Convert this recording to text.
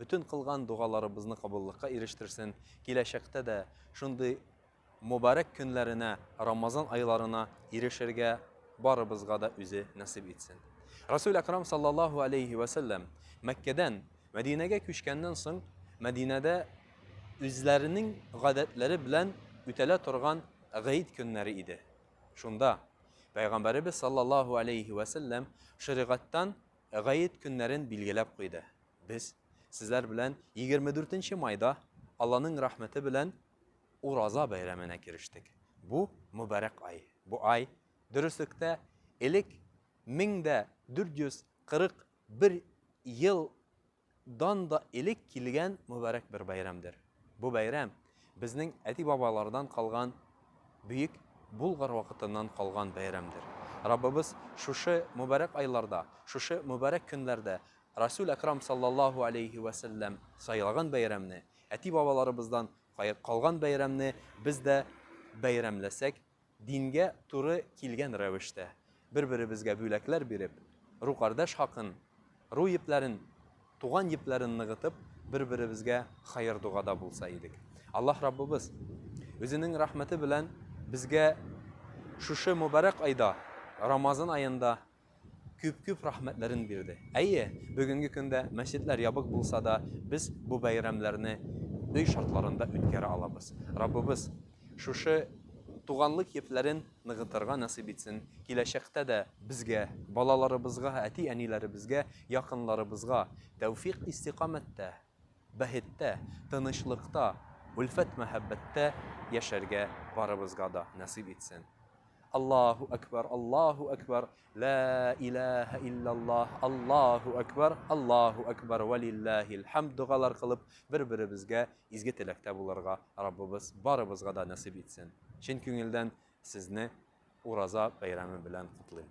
Бөтен кылган догаларыбызны кабуллыкка ирештерсен, киләчәктә дә шундый мобарәк көннәренә, Рамазан айларына ирешергә барыбызга да үзе насыйп итсен. Расул Акрам саллаллаһу алейхи ва саллям Мәккәдән Мәдинәгә күчкәннән соң Мәдинәдә үзләренең гадәтләре белән үтәлә торган гыйд көннәре иде. Шунда Пәйгамбәребез саллаллаһу алейхи ва саллям шәригатьтән Гает көннәрен билгеләп куйды. Без сезләр белән 24 нче майда, Алланың рәхмәте белән, Ураза бәйрәменә керештек. Бу, мөбарәк ай. Бу ай, дөреслектә, элек 1441 ел Дан да элек килгән мөбарәк бер бәйрәмдер. Бу бәйрәм, безнең әти-бабалардан калган, бөек Болгар вакытыннан калган бәйрәмдер. Раббыбыз шушы мөбарәк айларда, шушы мөбарәк көннәрдә Расүл Әкрам саллаллаһу аләйһи вә сәлләм сайлаган бәйрәмне, әти-бабаларыбыздан калган бәйрәмне без дә бәйрәмләсәк, Дингә туры килгән рәвештә, бер-беребезгә бүләкләр биреп, рукардәш хакын, ру епләрен, туган епләрен ныгытып, бер-беребезгә хәер-догада булса идек. Аллаһ Раббыбыз Үзенең рәхмәте белән безгә шушы мөбарәк айда, Рамазан аенда күп-күп рәхмәтләрен бирде. Әйе, бүгенге көндә мәчетләр ябык булса да, без бу бәйрәмнәрне өй шартларында үткәрә алабыз. Раббыбыз шушы туганлык епләрен ныгытырга насыйп итсен, киләчәктә дә безгә, балаларыбызга, әти-әниләребезгә, якынларыбызга тәүфикъ-истикамәттә, бәхеттә, тынычлыкта, өлфәт-мәхәббәттә яшәргә барыбызга да насыйп итсен. Аллаһу Әкбар, Аллаһу Әкбар, Лә иләһә илляллаһ, Аллаһу Әкбар, Аллаһу Әкбар, Вә лилләһил хәмд догалар кылып, бер-беребезгә изге теләктә булырга Раббыбыз барыбызга да насыйп итсен. Чын күңелдән сезне Ураза бәйрәме белән котлыйм.